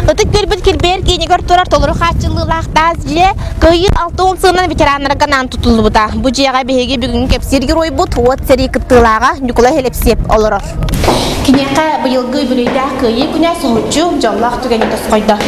Ытык Дьөрбүт кирбэйэр киинигэр турар толору хааччыллыылаах таас дьиэ кыайыы алта уон сылынан ветераннарга анаан тутуллубута. Бу дьиэҕэ биһиги бүгүҥҥү кэпсиир геройбут, уот сэрии кыттыылааҕа Ньукулай Элэксиэп олорор. Киниэхэ быйылгы үбүлүөйдээх кыайыы күнэ суһуччу, дьоллоох түгэни тосхойдо.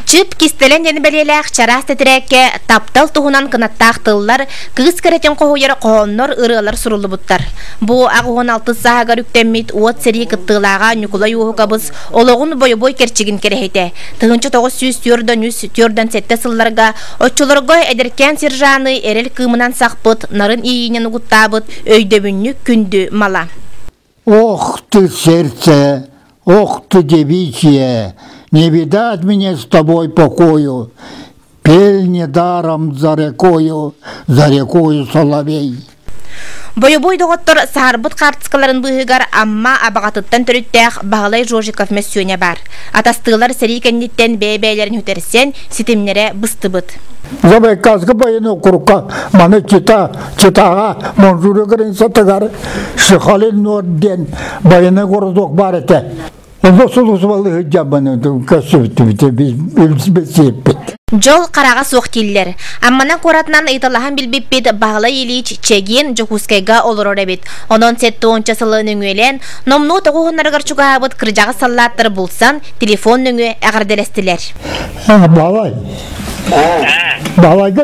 Чыт кистэлэҥ диэн бэлиэлээх чараас тэтирээккэ таптал туһунан кынаттаах тыллар Кыыс кэрэтин хоһуйар хоһооннор, ырыалар суруллубуттар. Бу ақ уон алтыс сааһыгар үктэммит уот сэрии кыттыылааҕа Ньукулай Уоһукабыс олоҕун бойобуой кэрчигин кэрэһитэ. Тыһынча тоҕус сүүс түөрдан үс түөрдан сэттэ сылларга оччолорго эдэркээн сержаны эрэл кыымынан сахпыт, нарын ииинэн угуттаабыт өйдөбүнньүк күндү мала. Ох ты сердце, ох ты девичье, не видать мне с тобой покою, Пель недаром за рекою, за рекою соловей. Бойобой доҕоттор саарбыт хаартыскаларын быыһыгар Амма Абаҕатыттан төрүттээх Баһылай Жожиков мөссүөнэ баар. Атастыылар сэрии кэнниттэн бэйэ-бэйэлэрин үтэрсэн, ситимнэрэ быстыбыт. За байкальск военного округа маны чита Читаҕа Монжура границатыгар Сихалин Нор диэн байанай городок баар этэ. Онно сулусубалыы сылдьаммын көссүбүттүбүт, билсиппит. Дьол хараҕа суох дииллэр. Амманан куоратынан ыйыталаһан билбиппит Баһылай Ильич Чэгин Дьокуускайга олорор эбит. Онон сет туонча сылы нөҥүөлээн, номнуо тоҕуһуннарыгар чугаһаабыт кырдьаҕас саллааттар булсан, телефон нөҥүө эҕэрдэлэстилэр. Балай. Балайга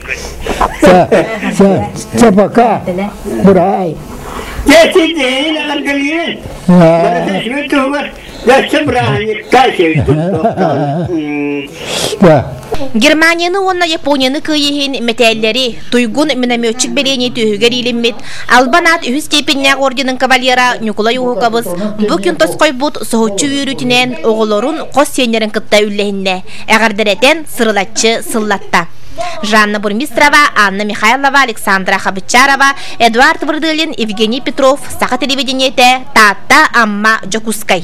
Це пока. Брай. Дети деи на Аргалиен. Бараташмы тугар. Яссы браник кайчевич Германияны уонна Японияны кыйыһын метеллери, туйгун минометчик белени түһүгэр илиммит, Албан ат үһүс степеннээх орденын кавалера Ньукулай Ухукабыс бу күн тосхойбут соһуччу үөрүүтүнэн оҕолорун хос сиэннэрин кытта үллэһиннэ, эҕэрдэрэтэн сырылаччы сыллатта. Жанна Бурмистрова, Анна Михайлова, Александра Хабычарова, Эдуард Вырдылин, Евгений Петров, Саха телевидениете, Таатта, Амма, Дьокуускай.